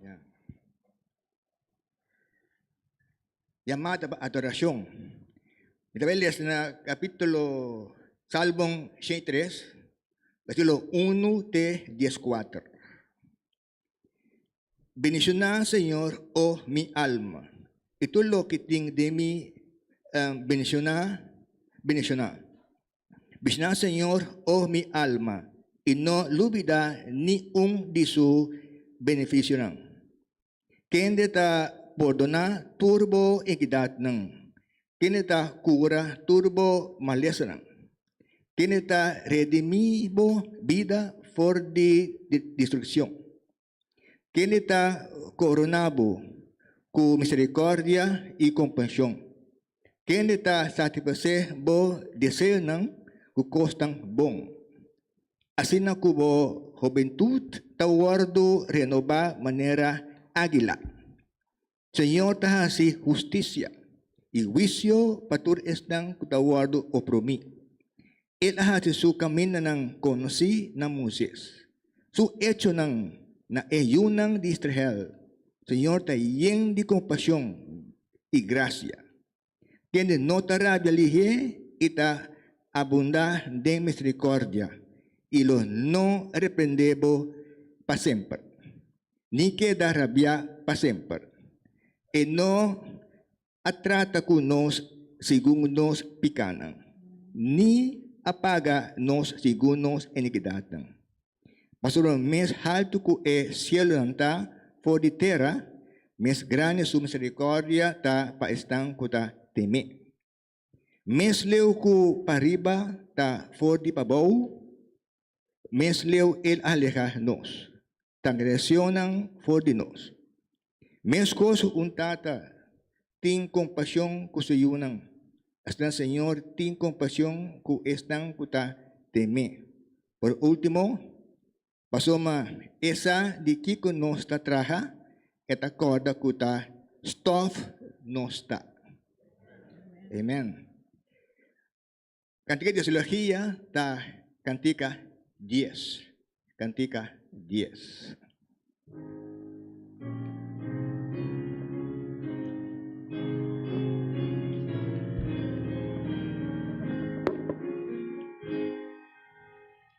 Ya. Yamá ta adoracion. Mi ta les na capítulo Salmon 63, versículo 1 te 14. Bendicioná, Señor, oh mi alma, y todo lo que tiene de mí, um, bendicioná, bendicioná. Bishnan Señor, oh mi alma, y no lubida ni un di su beneficionan. Kende ta pordona turbo inkidadnan, kende ta cura turbo malesanan, kende ta redimi bo bida for di destruccion. Ken di ta koroná bo ku miserikordia i kompashon? Ken di ta satisfasé bo deseonan ku kosnan bon? Asina ku bo hobentut ta wòrdu renobá manera ágila. Señor ta hasi husticia i huicio pa tur esnan cu ta wordo oprumi. El a hasi su camindanan conoci na Moises. Su hechonan na e yunan di Israel, Señor ta yen di compasion i gracia. Kende no ta rabia lihé i ta abundá den miserikòrdia i lo no reprendé bo pa semper, ni keda rabiá pa semper. E no a trata ku nos segun nos pikanan, ni a paga nos segun nos inikidatnan. Pasobra mes haltu ku e sielunan ta for di tera, mes grandi su miserikòrdia ta pa esnan ku ta tem'é. Mes leu ku pariba ta for di pabou, mes leu el a leha nos, transgresionnan for di nos. Meskos un tata tin kompashon ku su yunan, asina Señor tin kompashon ku esnan ku ta tem'é. Por último, pasobra E sa di kiko nos ta traha, E ta kòrda ku ta stòf nos ta. Amen. Cantica de Silogia ta cantica dies. Cantica dies.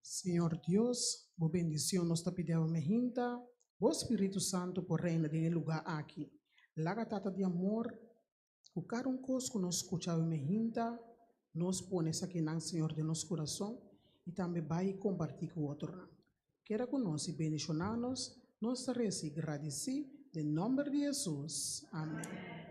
Señor Dios, bo bendición nos ta pidiawe mehinta, bo Spiritu Santo por reina den e luga aki. Laga Tata di amor, cu cada un cos cu nos scuchawe mehinta, nos pone esakinan Señor den nos curason y tambe bay y comparti cu otronan. Keda cu nos y bendiciona nos, nos ta reza y gradici den nomber di Jesus. Amen.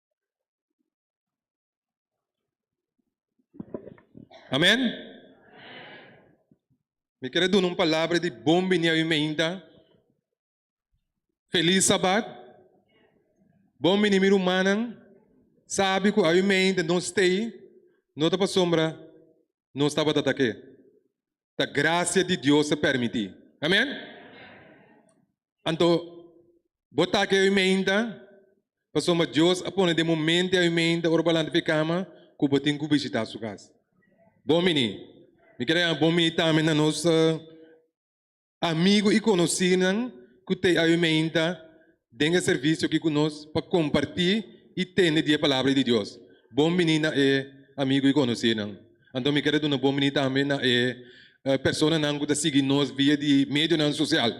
Amen. Mi quiere dar un palabra de bom binia mi meinta. Feliz sabat. Bom binia mi rumanan. Sabi ku awi meinta no stay. No ta pa sombra. nos tabata ta ke? Ta gracia di Dios a permiti. Amen? Anto, bo ta ke huimenta, pasobra Dios a pone den bo mente a huimenta ora bo a lanta fi kama ku bo tin ku bishita su kas. Bon bini. Mi kere bai bon bini tambe na nos. amigu i konosínan ku ta ayunainta den e servisio aki ku nos pa kompartí i tende di e Palabra di Dios. Bon biní na e amigu i konosínan. Anto mi keda duna bon biní tambe na e personanan ku ta sigui nos via di medionan sosial.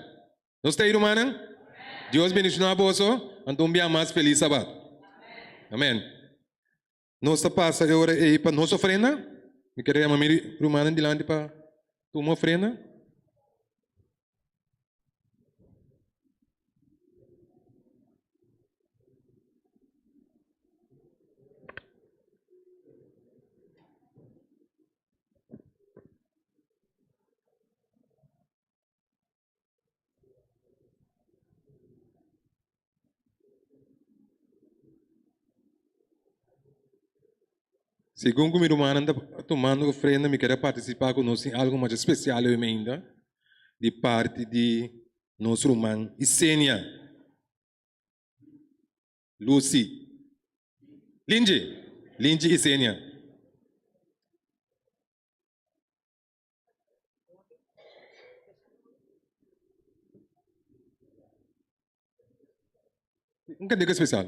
Nos ta ei rumannan? Dios bendishoná boso, anto un bia mas felis Sabat. Amén. Nos ta pasa e ora ei pa nos ofrenda. Mi kere yama mi rumannan dilanti pa tuma ofrenda. Segun ku mi rumannan ta tumando ofrenda, mi kere partisipá ku nos den algu masha spesial leu meinda di parti di nos ruman Isenia Lucy Linji Linji Isenia. Un kandeka spesial.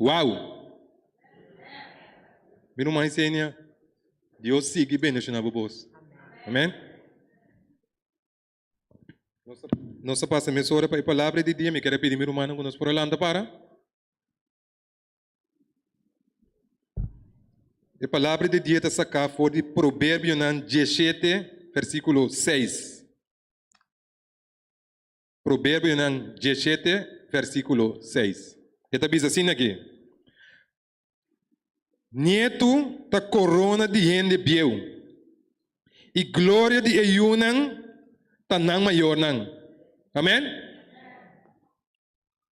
Wow! Mi ruman Yesenia, Dios sigui bendiciona bo bos. Amen. Nos ta pasa mesora pa e palabra di dia. Mi kere pidi mi rumannan cu nos por a lanta para. E palabra de dia ta saká for di Proverbionan 17, versíkulo 6. Proverbionan 17, versíkulo 6. E ta bisa asin aki. Nietu ta korona di hende bieu, i gloria di e yunan ta nan mayornan. Amèn.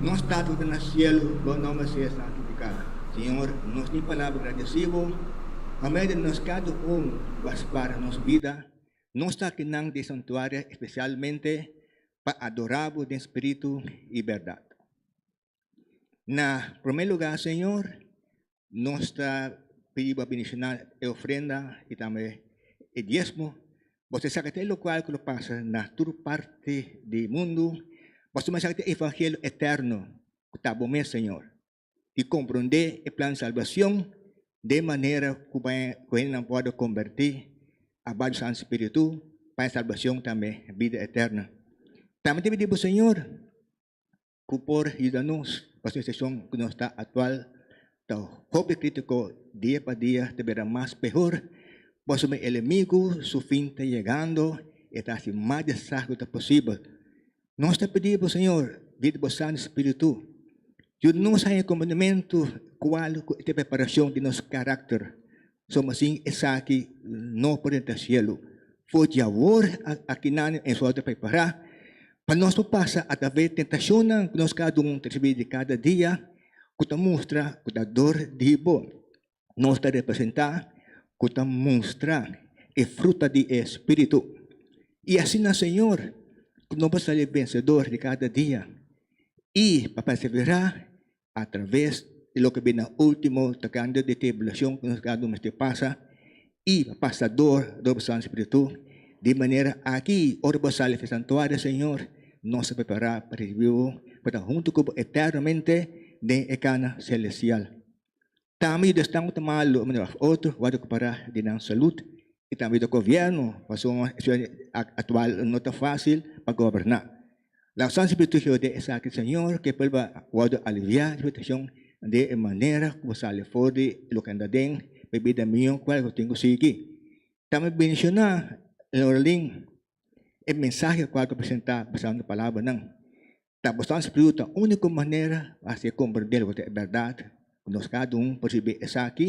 Nos Tata ku ta na sielu, bo nom a sea santifiká. Señor, nos tin palabra gradesí bo pa medio di nos kada un ku a spara nos bida, nos takinan di e santuario espesialmente pa adorá bo den spiritu i bèrdat. Na prome lugar, Señor, nos ta pidi bo bendiciona e ofrenda y tambe e diezmo. Boso sa que te lo cual que lo pasa na tur parte di mundo. Boso tambe sa que te evangelio eterno que ta bo mes, Señor. Y comprende e plan salvacion de manera que baña que hende nan por converti a bajo Santo Spiritu pa e salvacion tambe vida eterna. Tambe te pidi bo, Señor, ku por yuda nos pa situashon ku nos ta aktual ta hopi krítiko dia pa dia ta bira mas pehor boso mi elemigu su fin ta yegando e ta hasi mas di sa ku ta posibel. Nos ta pidi bo Señor dia di bo Santu Spiritu yuda nos haña komponementu kual ku e ta preparashon di nos karakter So masin esaki no por entra cielo. Fo diawor aki nan en su auto prepara. Pa nos pa pasa a tabe tentacion nan cu nos cada un recibi di cada dia cu ta mustra cu ta dor di hibo. Nos ta representa cu ta mustra e fruta di e spiritu. Y asina Señor cu nos por sali vencedor di cada dia y pa persevera a traves di loke bin na ultimo ta kende di tribulacion ku nos kado mester pasa i pasa dor dor Santo Spiritu di manera aki ora bo sali di santuario Señor nos a prepara pa risibi bo pa ta huntu ku bo eternamente den e kana celestial. tambe di esnan ku ta malu, mane of otro ku a rekuperá di nan salud i tambe di gobièrnu, pasobra un situa aktual no ta fásil pa goberná. Laga Santu Spiritu hihó den esaki, Señor, ke por bo a wòrdu aliviá di situashon den e manera ku bo sali for di loke anda den mi bida mió kual ku tin ku sigui. Tambe menshoná Lorelyn, e mensahe kual ku a presentá basá na palabra nan. Ta bosnan Spriu ta único manera pa haci e comprende loke ta e berdad, cu nos cada un por ricibi esaki,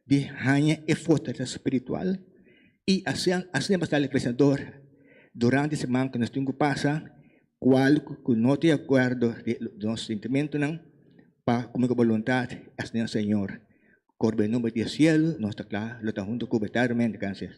di haña e fortalesa spiritual y asina asina basta el vencedor durante e seman cu nos tin cu pasa, cual cu no ta de acuerdo di nos sentimentonan, pa cumpli cu e boluntad, asina Señor. Corbe nomber di e cielo nos ta cla lo ta hunto cube eternamente. Gracias.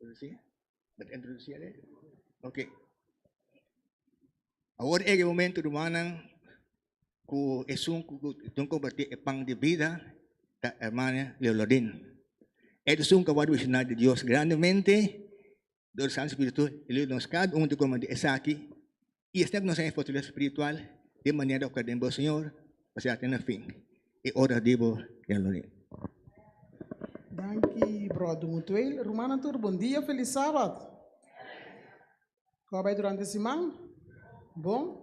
Introducí? Dat introducí ale? Ok. Awor ege momento rumanan ku esun ku don comparti e pan de vida ta hermana Leolodin. Ede sun ka wadu ishina de Dios grandemente dor San Spiritu. Ele nos kad un te comparti esaki Y esei ku nos a fortalece spiritual de manera ku a den bo Señor pa siga te na fin. E ora di bo den lo niño. Danki bròder Mutuel. Rumannan tur bon dia, felis Sabat. Kon a bai durante siman? Bon?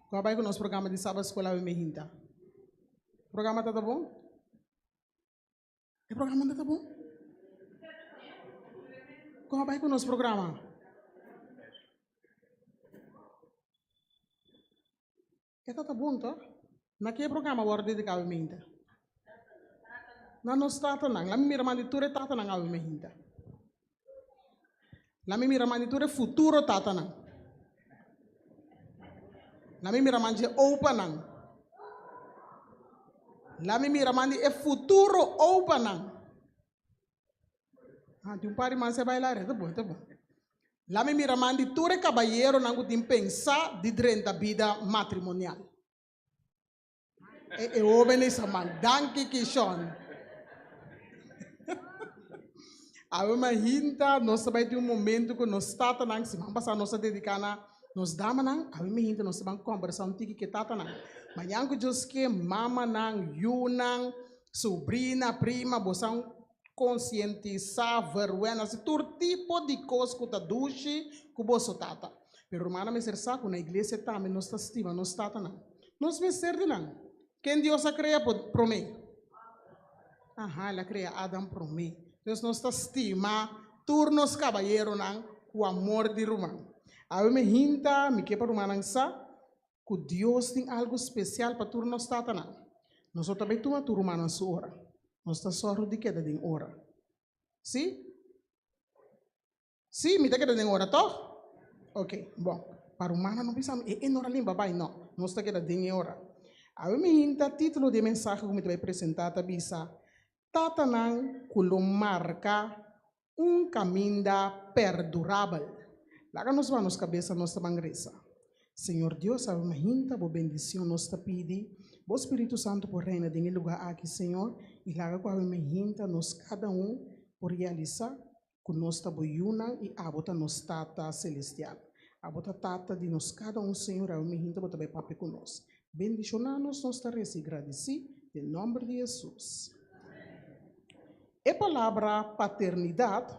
Kon a bai ku nos programa di Sabat Skol awe me hinta? Programa tabata bon? E programa unde ta bon? Kon a bai ku nos programa? E ta ta bon to? Na ke programa wòrdu dediká awe mehinta? Na nos tatanan. Laimi mira mandi tur e tatanan awe mehinta. Laat me mira man di tur e futuro tatanan. Laat me mira man dje opanan. Laat me mira man di e futuro opanan. Ah, tin un par di man sa e baila aredo, ta bon, ta bon. Laat me mira man di tur e kabayeronan ku tin pensa di drenta bida matrimonial. E, e jóvenes a man, danki Kishon. Awe ma hinta, nos ta bai tin un momento ku nos tatanan, si man pasa nos ta dediká na nos damanan, awe mi hinta nos ta ban kombersá un tiki ke tatanan. Mañan ku Dios ke, mamanan, yunan, subrina, prima, bosan konsientisá, vergüenza, si tur tipo di kos ku ta dushi ku boso tata. Pero rumannan mester sa ku na iglesia tambe nos ta stima nos tatanan. Nos mester di nan. Ken Dios a krea por promé? Aha, el a krea Adan promé. Entonces nos ta stima tur nos kabayeronan ku amor di ruman. Awe mi hinta, mi ke pa rumannan sa ku Dios tin algu spesial pa tur nos tatanan. Nos lo ta bai tuma tur rumannan su ora. Nos ta sòru di keda den ora. Sí? Sí, mi ta keda den ora, tòg? Oke, bon. Pa rumannan no bisa, E e nor a limpa bai. No. Nos ta keda den e ora. Awe mi hinta titulo di e mensahe ku mi ta bai presentá ta bisa, Tatanan ku lo marka un kaminda perdurabel. Laga nos baha nos kabesa, nos ta ban resa. Señor Dios, ora nos hinta Bo bendicion, nos ta pidi Bo Spiritu Santo por reina den e lugar aki, Señor, y laga cu awe nos hinta, nos cada un por realisa cu nos ta Bo yunan y Abo ta nos Tata Celestial. Abo ta Tata di nos cada un, Señor, y awe nos hinta Bo ta bay papia cu nos. bendishoná nos, nos ta resi i gradisí den nòmber di Hesus. E palabra paternidat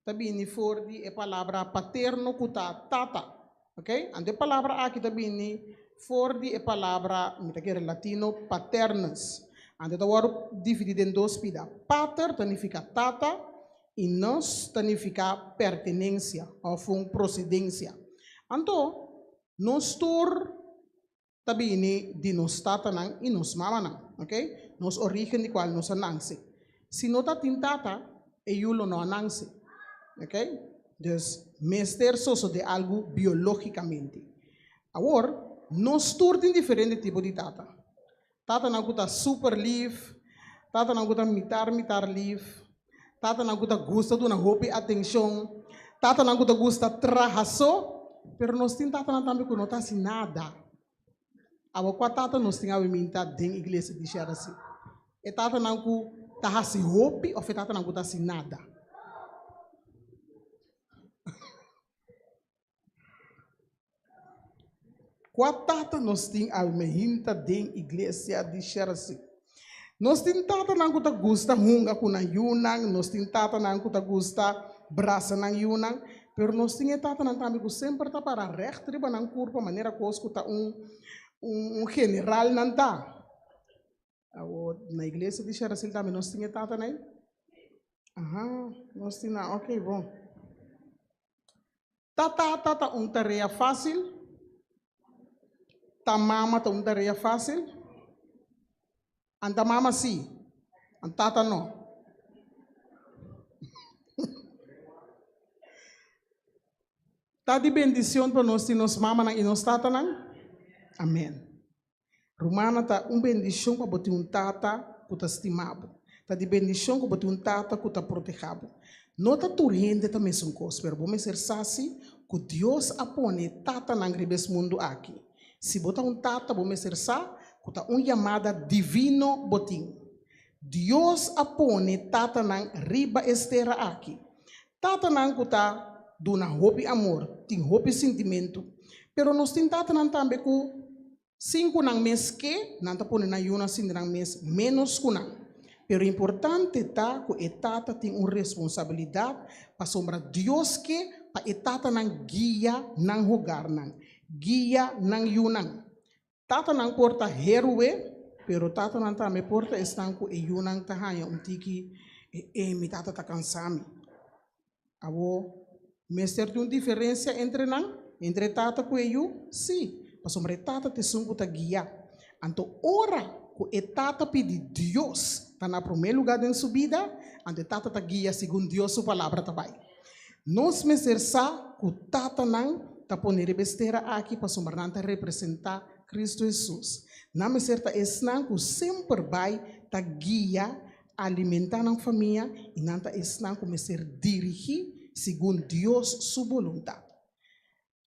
ta bini for di e palabra paterno ku ta tata, ok? Anto e palabra aki ta bini for di e palabra, mi ta kere latino, paternus. Anto ta wòrdu dividí den dos pida. Pater ta nifiká tata i nus ta nifiká pertenensia òf un prosedensia. Anto, Nos tur ta bini di nos tatanan i nos mamanan, oke? Nos origen di kual nos a nanse. Si no ta tin tata, e yu lo no a nanse, oke? Dus mester sosodé algu biológikamente. Awor, nos tur tin diferente tipo di tata. Tatanan ku ta super lief, tatanan ku ta mitar mitar lief, tatanan ku ta gusta duna hopi atenshon, tatanan ku ta gusta traha so, pero nos tin tatanan tambe ku no ta hasi nada. Awe kua tata nos tin awe minta den iglesia di Sherasi? E tatanan ku ta hasi hopi of e tatanan ku ta hasi nada? Kua tata nos tin al me hinta den iglesia di Scherzi? Nos tin tatanan ku ta gusta hunga ku nan yunan, nos tin tatanan ku ta gusta brasa nan yunan, pero nos tin e tatanan tambe ku semper ta para règt riba nan kurpa manera ku os ku ta un un general nan ta. Awor na iglesia di Sherasin tambe nos tin e tatanay? Aha, nos tin nan, ok bon. Ta tata ta un tarea fácil? Ta mama ta un tarea fácil? An ta mama sí, an tata no. Ta di bendicion pa nos tin nos mamanan i nos tatanan? Amén. Rumannan, ta un bendishon pa bo tin un tata ku ta stima bo. Ta di bendishon ku bo tin un tata ku ta proteha bo. No ta tur hende ta mesun kos, pero bo mester sa si ku Dios a pone e tatanan riba es mundu aki. Si bo ta un tata, bo mester sa ku ta un yamada divino bo tin. Dios a pone tatanan riba es tera aki. Tatanan ku ta duna hopi amor tin hopi sintimentu, pero nos tin tatanan tambe ku sin ku nan mes ke, nan ta pone nan yunan sinti nan mes ménos ku nan. Pero importante ta ku e tata tin un responsabilidat pasobra Dios ke pa e tatanan guia nan hogarnan, guia nan yunan. Tatanan por ta heroe, pero tatanan tambe por ta esnan ku e yunan ta haña un tiki e e mi tata ta kansa mi. Abo mester tin un diferensia entre nan, entre e tata ku e yu? Sí, pasobra e tata ta esun ku ta guia. Anto ora ku e tata pidi Dios ta na promé lugá den su bida, anto e tata ta guia segun Dios su palabra ta bai. Nos mester sa ku tatanan ta pone riba e stera aki pasobra nan ta representá Kristu Hesus. Nan mester ta esnan ku semper bai ta guia, alimentá nan famia i nan ta esnan ku mester dirigí segun Dios su boluntat.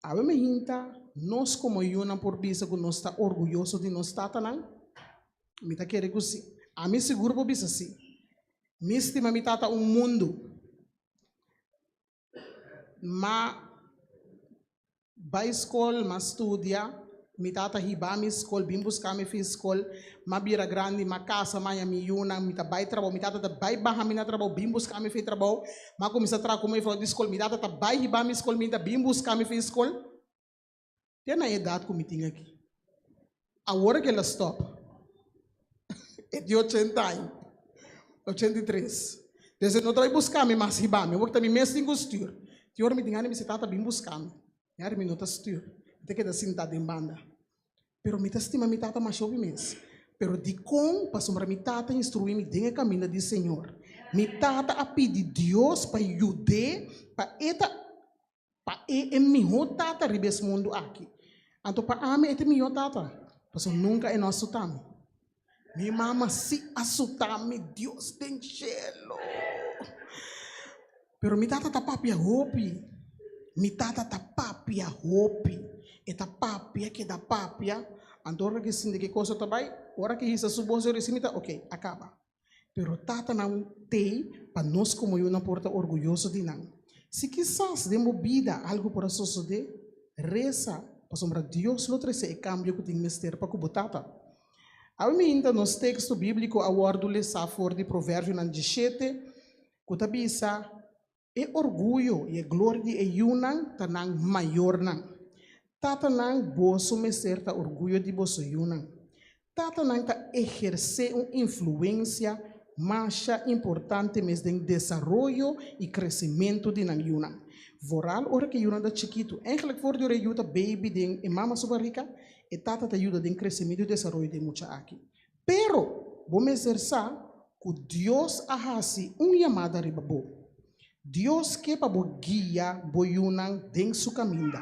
Awe mi hinta, nos komo yunan por bisa ku nos ta orguyoso di nos tatanan? Mi ta kere ku sí. Ami sigur por bisa sí. Mi stima mi tata un mundu. N bai skol, N studia, Mi tata hiba mi skol, bin buska mi fin skol. M'a bira grandi, m'a kasa, m'a haña mi yunan, mi ta bai trabou. Mi tata ta bai baha mi na trabou, bin buska mi fin trabou. M'a kuminsá traha ku mefrou di skol. Mi tata ta bai hiba mi skol binta, bin buska mi fin skol. Te na e edat ku mi tin aki. Awor akila a stòp. E tin ochenta aña, ochenta i tres. Desde no ta bai buska mi mas hiba mi. Awor ta mi mes tin ku stür. Tin ora mi tin gana di mester, Tata, bin buska mi. Yari mi no ta stuur, mi ta keda sintá den banda. Pero mi ta stima mi tata masha hopi mes. Pero dikon? Pasobra mi tata a instruí mi den e kaminda di Señor. Mi tata a pidi Dios pa yud'é pa e ta pa e e mihó tata riba es mundu aki. Anto pa ami e ta e mihó tata, pasobra nunka e no a suta mi. Mi mama si a sutá mi Dios den shelo. Pero mi tata ta papia hopi. Mi tata ta papia hopi. E ta papia, keda papia. Anto ora ke sinti ke kosa ta bai, ora ke hisa su bos dor e si mi tata, ok, a kaba. Pero tatanan tei pa nos komo yunan por ta orguyoso di nan. Si kisas den bo bida algu por a sosodé, resa, pasobra Dios lo trese e kambio ku tin mester pa ku bo tata. Aminta nos teksto bíbliko a wòrdu lesá for di Proverbionan dishete, ku ta bisa, E orguyo i e gloria di e yunan ta nan mayornan. Tatanan, boso mester ta orguyo di boso yunan. Tatanan ta ehersé un influensia masha importante mes den desaroyo i kresimentu di nan yunan. Voral ora ku e yunan ta chikitu. Ègèlek for di ora e yu ta beibi den e mama su barika, E tata ta yuda den kresementu i desaroyo di e mucha aki. Pero, bo mester sa ku Dios a hasi un yamada riba bo. Dios ke pa bo guia bo yunan den su kaminda.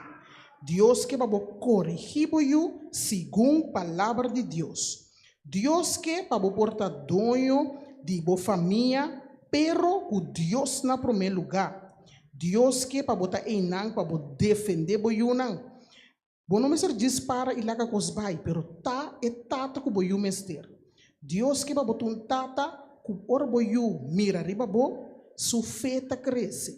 Dios ke pa bo korigí bo yu segun Palabra di Dios. Dios ke pa bo por ta doño di bo famia, pero ku Dios na promé lugá. Dios ke pa bo ta einan pa bo defendé bo yunan. Bo no mester djis para i laga kos bai, pero ta e tata ku bo yu mester. Dios keba bo ta un tata ku ora bo yu mira riba bo, su fe ta krese.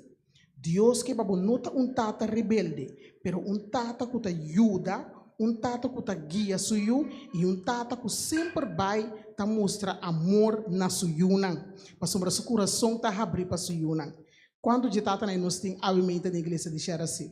Dios keba bo no ta un tata rebelde, pero un tata ku ta yuda, un tata ku ta guia su yu i un tata ku semper bai ta mustra amor na su yunan, pasobra su kurason ta habri pa su yunan. Kuantu dje tatanan nos tin abimente den Iglesia di Sherasin?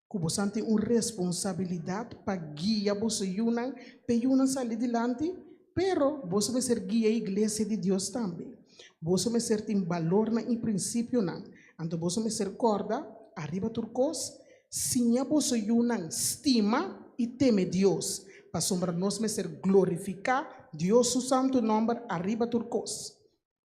ku bosan tin un responsabilidat pa guia boso yunan p'e yunan sali dilanti, pero boso mester guia e iglesia di Dios tambe. Boso mester tin balornan i prinsipionan. Anto boso mester kòrda, ariba tur kos, siña boso yunan stima i teme Dios, pasobra nos mester glorifiká Dios su santu nòmber ariba tur kos.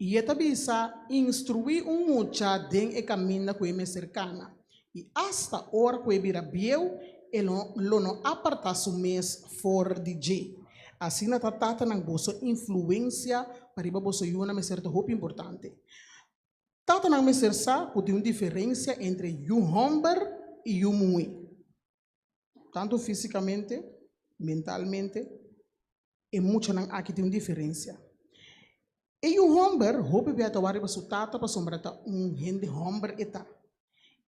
I e ta bisa, Instruí un mucha den e kaminda ku e mester kana, i asta ora ku e bira bieu, e lo no apartá su mes for di dje. Asina ta tatanan boso influensia pa riba boso yunan mester ta hopi importante. Tatanan mester sa ku tin un diferensia entre yu hòmber i yu muhé. tantu físikamente, mentalmente, e muchanan aki tin un diferensia. E yu hòmber, hopi bia ta wak riba su tata pasobra ta un hende hòmber e ta.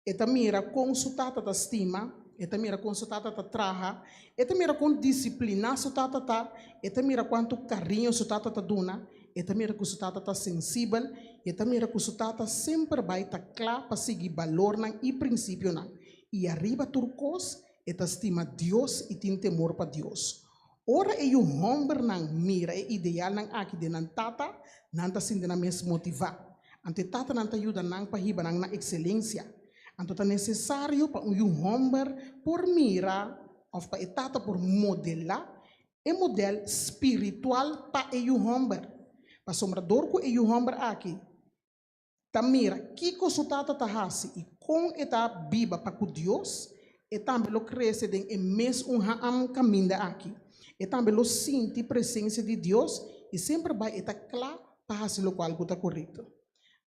E ta mira kon su tata ta stima, e ta mira kon su tata ta traha, e ta mira kon disipliná su tata ta, e ta mira kuantu kariño su tata ta duna, e ta mira ku su tata ta sensibel i e ta mira ku su tata semper bai ta kla pa sigui balornan i prinsipionan. I ariba tur kos, e ta stima Dios i tin temor pa Dios. Ora e yu hòmbernan mira e idealnan aki den nan tata, nan ta sinti nan mes motivá. Anto e tatanan ta yuda nan pa hiba nan na ekselensia. Anto ta nesesario pa un yu hòmber por mira òf pa e tata por modelá e modèl spiritual pa e yu hòmber. Pasobra dor ku e yu hòmber aki ta mira kiko su tata ta hasi i kon e ta biba pa ku Dios, e tambe lo krese den e mes un haam kaminda aki. E tambe lo sinti presensia di Dios i semper bai e ta kla pa hasi lokual ku ta korekto.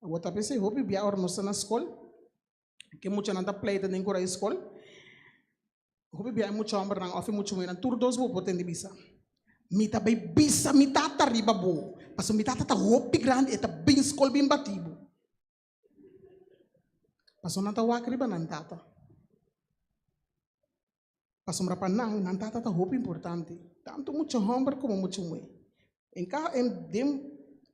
Awor ta pensa i hopi bia ora nos ta na skol. Ke muchanan ta pleita den Korai Skol. Hopi bia e mucha hòmbernan òf e mucha muhernan, tur dos bo por tende bisa. Mi ta bai bisa mi tata riba bo, pasobra mi tata ta hopi grandi, e ta bin skol bin batí bo. Pasobra nan ta wak riba nan tata. Pasobra pa nan, nan tata ta hopi importante, tantu mucha homber komo mucha muhé. En ka, en den,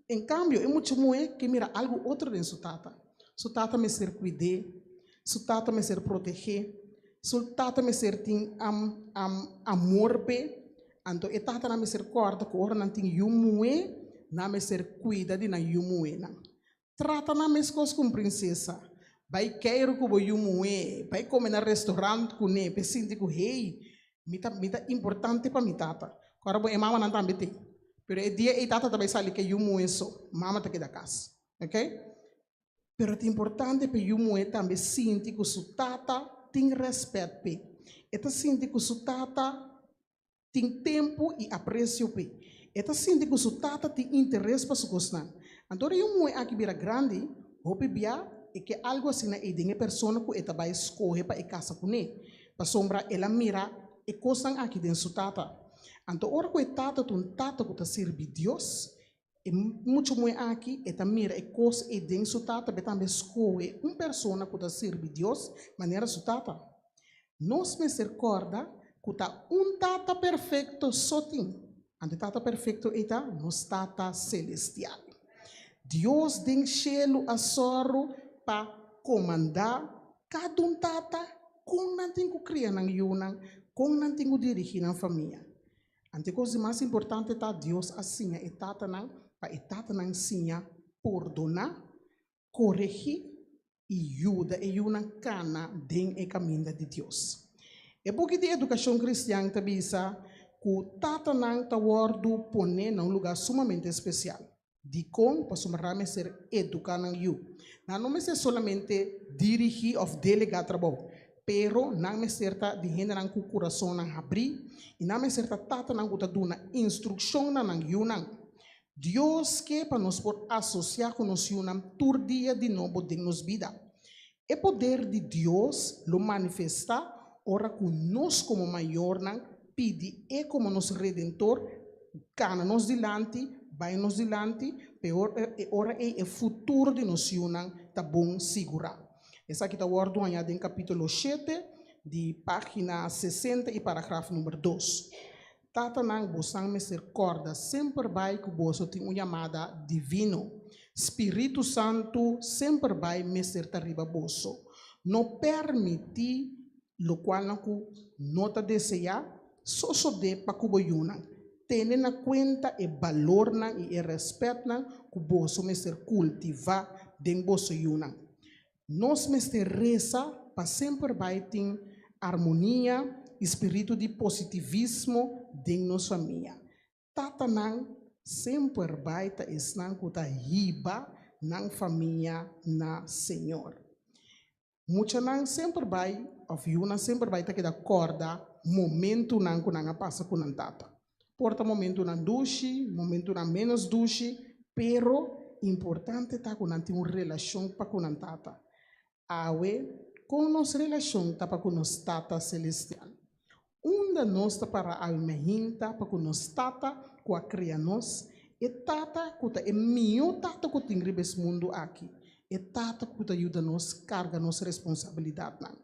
en kambio, e mucha muhé ke mira algu otro den su tata. Su tata mester kuid'é, su tata mester proteg'é, su tata mester tin am, am, amor p'é. Anto e tatanan mester kòrda ku ora nan tin yu muhé, nan mester kuida di nan yu muhénan. Trata nan meskos ku un prinsesa. Bai keiru ku bo yu muhé, bai kome na restorant kuné pa e sinti ku, Hei, mi ta mi ta importante pa mi tata. Kòrda bo e mamanan tambe tin. Pero e dia ei tata ta bai sali ku e yu muhé so, mama ta keda kas. Oke? Pero ta importante pa e yu muhé tambe sinti ku su tata tin rèspèt pa e. E ta sinti ku su tata tin tempu i apresio p'e. E ta sinti ku su tata tin interes pa su kosnan. Anto ora yon muhé aki bira grandi, hopi bia e ke algu asina ei den e persona ku e ta bai skohe pa e kasa kuné, pasobra el a mira e kosnan aki den su tata. Anto ora ku e tata ta un tata ku ta sirbi Dios, E mucha muhé aki, e ta mira e kos ei den su tata, be tambe skohe un persona ku ta sirbi Dios manera su tata. Nos mester kòrda ku ta un Tata perfekto so tin, anto e Tata perfekto ei ta nos Tata selestial. Dios den shelu a sòru pa komandá kada un tata kon nan tin ku kria nan yunan, kon nan tin ku dirigí nan famia. Anticos di mas importante ta Dios a siña e tatanan pa e tatanan siña pordona, coregi y yuda e yunan cana den e caminda di Dios. E buki di Educacion Cristian ta bisa cu tatanan ta wordo pone na un lugar sumamente especial. Dikon pasobra nan a mester eduká nan yu. Nan no mester solamente dirigí òf delegá trabou, pero nan mester ta di hendenan ku kurasonnan habrí i nan mester ta tatanan ku ta duna instrukshon na nan yunan. Dios ke pa nos por asosiá ku nos yunan tur dia di nobo den nos bida. E poder di Dios lo manifestá ora ku nos komo mayornan pidi E komo nos Redentor gana nos dilanti, bai nos dilanti, peor e ora ei e futuro di nos yunan ta bon sigurá. Esaki ta wòrdu hañá den kapítulo shete di página sesenta i paragraf number dos. Tatanan, bosan mester kòrda semper bai ku boso tin un yamada divino. Spiritu Santu semper bai mester ta riba boso. No permití lokualnan ku no ta deseá sosodé pa ku bo yunan. Tene na kuenta e balornan i e rèspètnan ku boso mester kultivá den boso yunan. Nos mester resa pa semper bai tin armonia i spiritu di positivismo den nos famia. Tatanan semper bai ta esnan ku ta hiba nan famia na Señor. Muchanan semper bai òf yunan semper bai ta keda kòrda momentunan ku nan a pasa ku nan tata. Por ta momentunan dushi, momentunan ménos dushi, pero importante ta ku nan tin un relashon pa ku nan Tata. Awe, kon nos relashon ta pa ku nos Tata selestial? Unda nos ta para awe mijín ta pa ku nos Tata ku a kria nos, e Tata ku ta e mihó Tata ku tin riba es mundu aki, e Tata ku ta yuda nos karga nos responsabilidatnan.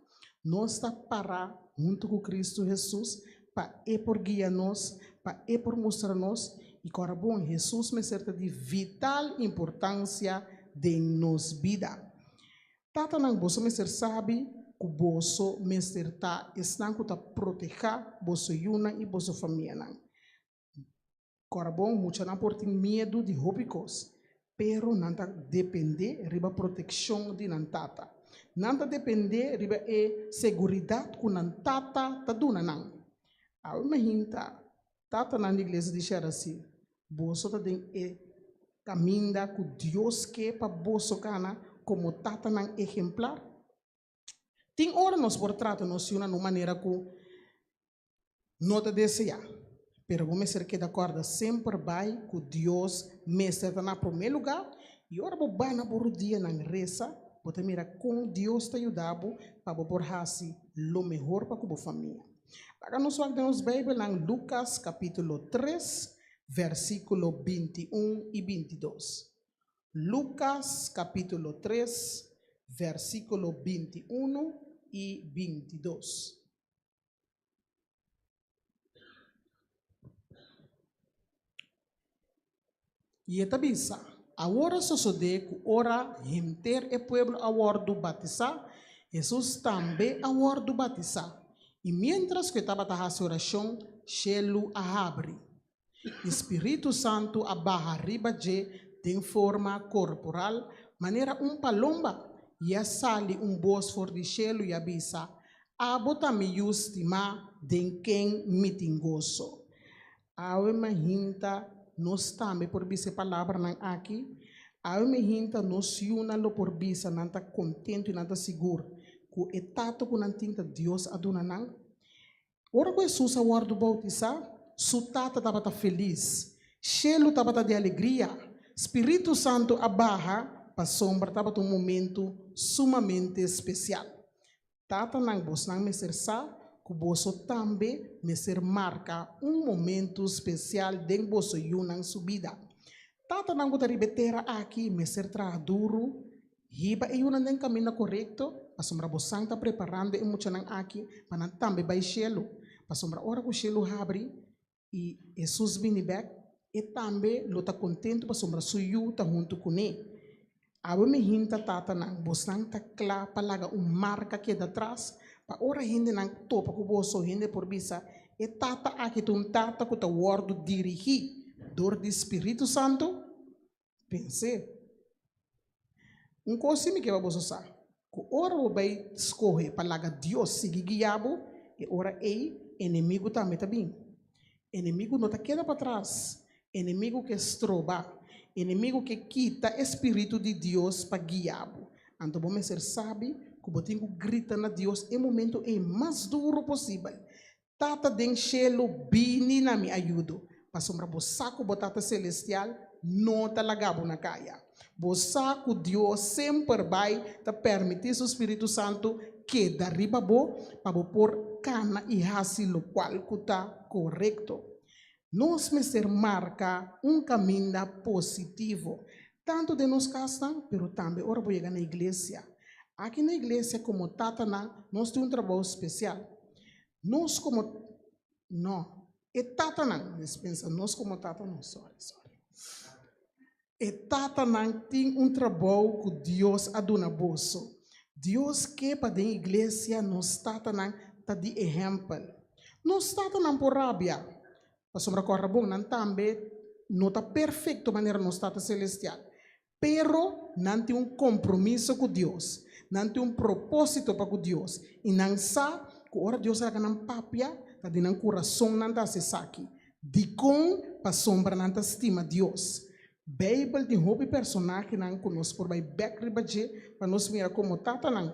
Nos ta para huntu ku Kristu Hesus Pa e por guia nos, pa e por mustra nos i kora bon. Hesus mester ta di vital importansia den nos bida. Tatanan, boso mester sabi ku boso mester ta esnan ku ta protehá boso yunan i boso famianan. Corbon, muchanan por tin miedu di hopi cos, pero nan ta depende riba proteccion di nan tata. Nan ta depende riba e seguridad cu nan tata ta duna nan. Abo imaginta tatanan di Iglesia di shera si boso ta den e caminda cu Dios ke pa boso cana como tatanan ehemplar? Tin ora nos por trata nos yunan na un manera ku no ta deseá, pero bo mester keda kòrda semper bai ku Dios mester ta na promé lugá i ora bo bai na bo rudianan resa, bo ta mira kon Dios ta yuda bo pa bo por hasi lo mehor pa ku bo famia. Laga nos wak den nos Beibelnan Lukas kapítulo tres, vèrsikulo binti un i binti dos. Lucas capítulo tres, versículo binti unu i binti dos. I e ta bisa, Awor a sosodé ku ora henter e pueblo a wòrdu batisá, Hesus tambe a wòrdu batisá. I miéntras ku e tabata hasi orashon, shelu a habri. E Spiritu Santu a baha riba dje den forma corporal manera un palomba, i a sali un bos for di shelu i a bisa, Abo ta mi Yu stima den ken mi tin goso. Awe mi a hinta nos tambe por bisa e palabranan aki, awe mi a hinta nos yunan lo por bisa nan ta contentu i nan ta sigur cu e Tata cu nan tin ta Dios a duna nan. Ora ku Hesus a wòrdu boutisá, su Tata tabata felis. Shelu tabata di alegria. Spiritu Santu a baha, pasobra tabata un momentu sumamente spesial. Tatanan, bosnan mester sa ku boso tambe mester marka un momentu spesial den boso yunan su bida. Tatanan ku ta riba e tera aki mester traha duru Hiba e yunan den kaminda korekto, pasobra bo San ta preparando e muchanan aki pa nan tambe bai shelu. Pasobra ora ku shelu habri i Hesus bini bèk, e tambe lo ta kontentu pasobra su Yu ta huntu kuné. Abo mi hinta tatanan, bosan ta kla pa laga un marka keda tras, pa ora hendenan topa ku boso hende por bisa, E tata aki ta un tata ku ta wòrdu dirigí dor di Spiritu Santu. Pens'é. Un kos simi ke pa boso sa, ku ora bo bai skohe pa laga Dios sigui guia bo, e ora ei enemigu tambe ta bini. Enemigu no ta keda patras, enemigu ke stroba, enemigu ke kita e spiritu di Dios pa guia bo. Anto bo mester sabi ku bo tin ku grita na Dios e momentu ei mas duru posibel. Tata den shelu, bini na mi ayudo, pasobra bo sa ku bo Tata Selestial no ta laga bo na kaya. Bo sa ku Dios semper bai ta permití su Spiritu Santu keda riba bo pa bo por kana i hasi lokual ku ta korekto. Nos mester marka un kaminda positivo, tantu den nos kasnan, pero tambe ora bo yega na iglesia. Aki na iglesia, komo tatanan, nos tin un trabou spesial. Nos komo, no, e tatanan, mes pensa nos komo tatanan, sorry, sorry. E tatanan tin un trabou ku Dios a duna boso. Dios ke pa den iglesia nos tatanan ta di ehèmpel. Nos tatanan por rabia, pasobra kòrda bon nan tambe no ta perfekto manera nos Tata Selestial. Pero nan tin un kompromiso ku Dios, nan tin un propósito pa ku Dios i nan sa ku ora Dios a laga nan papia, ta di nan kurason nan ta hasi esaki. Dikon pasobra nan ta stima Dios? Beibel tin hopi personahenan ku nos por bai bek riba dje pa nos mira komo tatanan.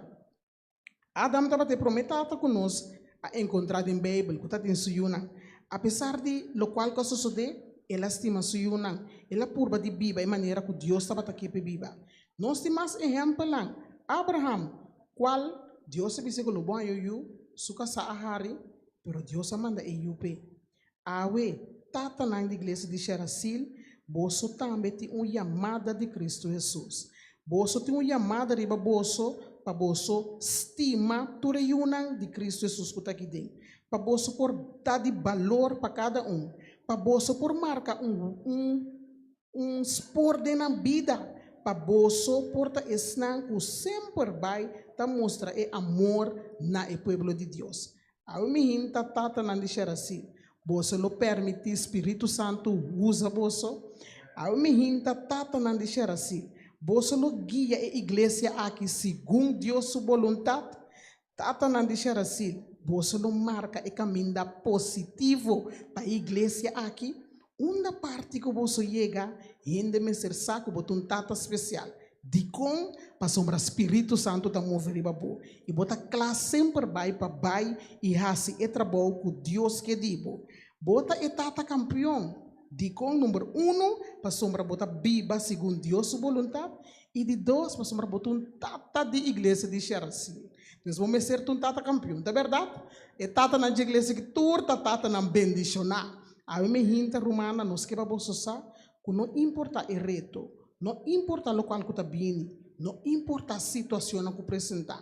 Adam tabata e promé tata ku nos a enkontrá den Beibel ku ta tin su yunan. Apesar di lokual ku a sosodé, el a stima su yunan. El a purba di biba e manera ku Dios tabata ke p'e biba. Nos tin mas ehèmpelnan. Abraham, kual Dios a bisa ku lo bon a yoyó, su kasá a hari, Pero Dios a manda e Yu p'e. Awe, tatanan di iglesia di Sherasil, boso tambe tin un yamada di Kristu Hesus. Boso tin un yamada riba boso pa boso stima tur e yunan di Kristu Hesus ku ta aki den, pa boso por da di balor pa kada un, pa boso por marka un un. Un spor den nan bida pa boso por ta esnan ku semper bai ta mustra e amor na e pueblo di Dios. Awe mi hinta tatanan di Sherasin, boso lo permití spiritu santu usa boso? Awe mi hinta tatanan di Sherasin, boso lo guia e iglesia aki segun Dios su boluntat? Tatanan di Xerasil, boso lo marka e kaminda positivo pa e iglesia aki. Unda parti ku boso yega, hende mester sa ku bo ta un tata spesial. Dikon? Pasobra spiritu santu ta move riba bo, i bo ta kla semper bai pa bai i hasi e trabou ku Dios ke di bo. Bo ta e tata kampion. Dikon? Number unu, pasobra bo ta biba segun Dios su boluntat, I di dos, pasobra bo ta un tata di iglesia di Sherasin, entonces bo mester ta un tata kampion, ta bèrdat? E tatanan dje iglesia aki tur ta tatanan bendishoná. Awe mi hinter rumannan, nos ke pa bo sosá ku no importá e reto, no importá lokual ku ta bini, no importá situashonnan ku presentá,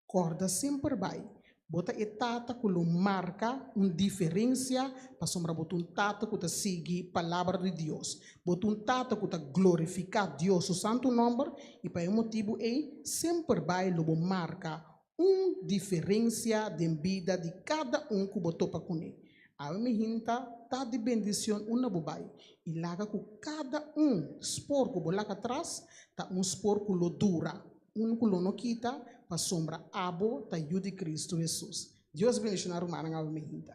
Kòrda semper bai, bo ta e tata ku lo marka un diferensia pasobra bo ta un tata ku ta sigui Palabra di Dios. Bo ta un tata ku ta glorifiká Dios su santu nòmber i pa e motibu ei semper bai lo bo marka un diferensia den bida di kada un ku bo topa kuné. Aba mi hinta, ta di bendishon unda bo bai i laga ku kada un spor ku bo laga tras ta un spor ku lo dura. Un ku lo no kita pasobra abo ta yu di Kristu Hesus. Dios bendishoná rumannan abo mi hinta.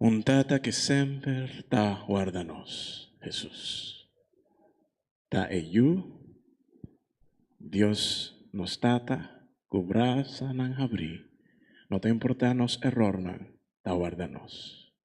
Un Tata ke semper ta warda nos, Hesus, ta e Yu, Dios nos Tata, ku brasanan habrí, no ta importá nos eròrnan, ta warda nos.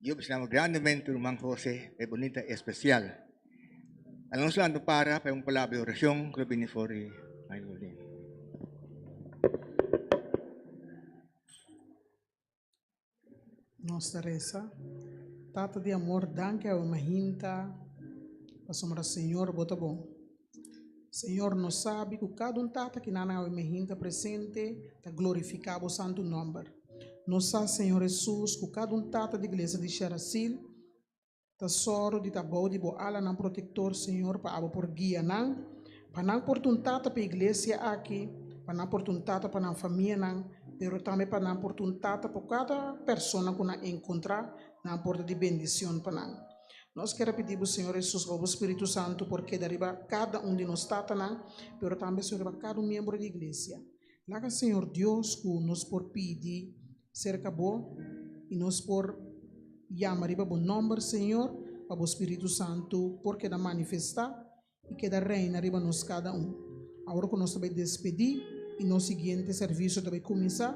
Yo besnama grandemente ruman Jose e bonita especial. Alonso ando para pa un palabra de oracion que lo bini for di Maylin. Nos ta reza. Tata di amor, danki awe mahinta pasobra Señor bo ta bon. Señor, nos sabi cu cada un tata ki nan awe mihin ta presente ta glorifica bo santo nomber. Nos sa, Señor Jesus, cu cada un tata di Iglesia di Sherasil ta soro di ta bou di bo alanan protector, Señor, pa abo por guia nan, pa nan por ta un tata pa e Iglesia aki, pa nan por ta un tata pa nan famianan, pero tambe pa nan por ta un tata pa cada persona cu nan encontra, nan por ta di bendicion pa nan. Nos ker a pidi bo Señor Hesus pa bo Spiritu Santu por keda riba kada un di nos tatanan pero tambe Señor riba kada un miembro di Iglesia. Laga Señor Dios cu nos por pidi cerca bo y nos por yama riba bo nomber Señor pa bo Spiritu Santu por keda manifesta i keda reina riba nos kada un. Awor ku nos ta bai despedí i nos siguiente servisio ta bai kuminsá,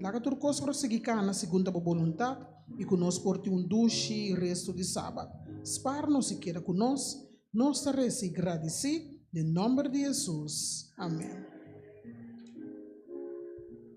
laga tur kos por sigui kana segun ta bo boluntat i ku nos por tin un dushi restu di Sabat. Spar nos i keda ku nos. Nos ta reza i gradisí den nòmber di Hesus. Amen.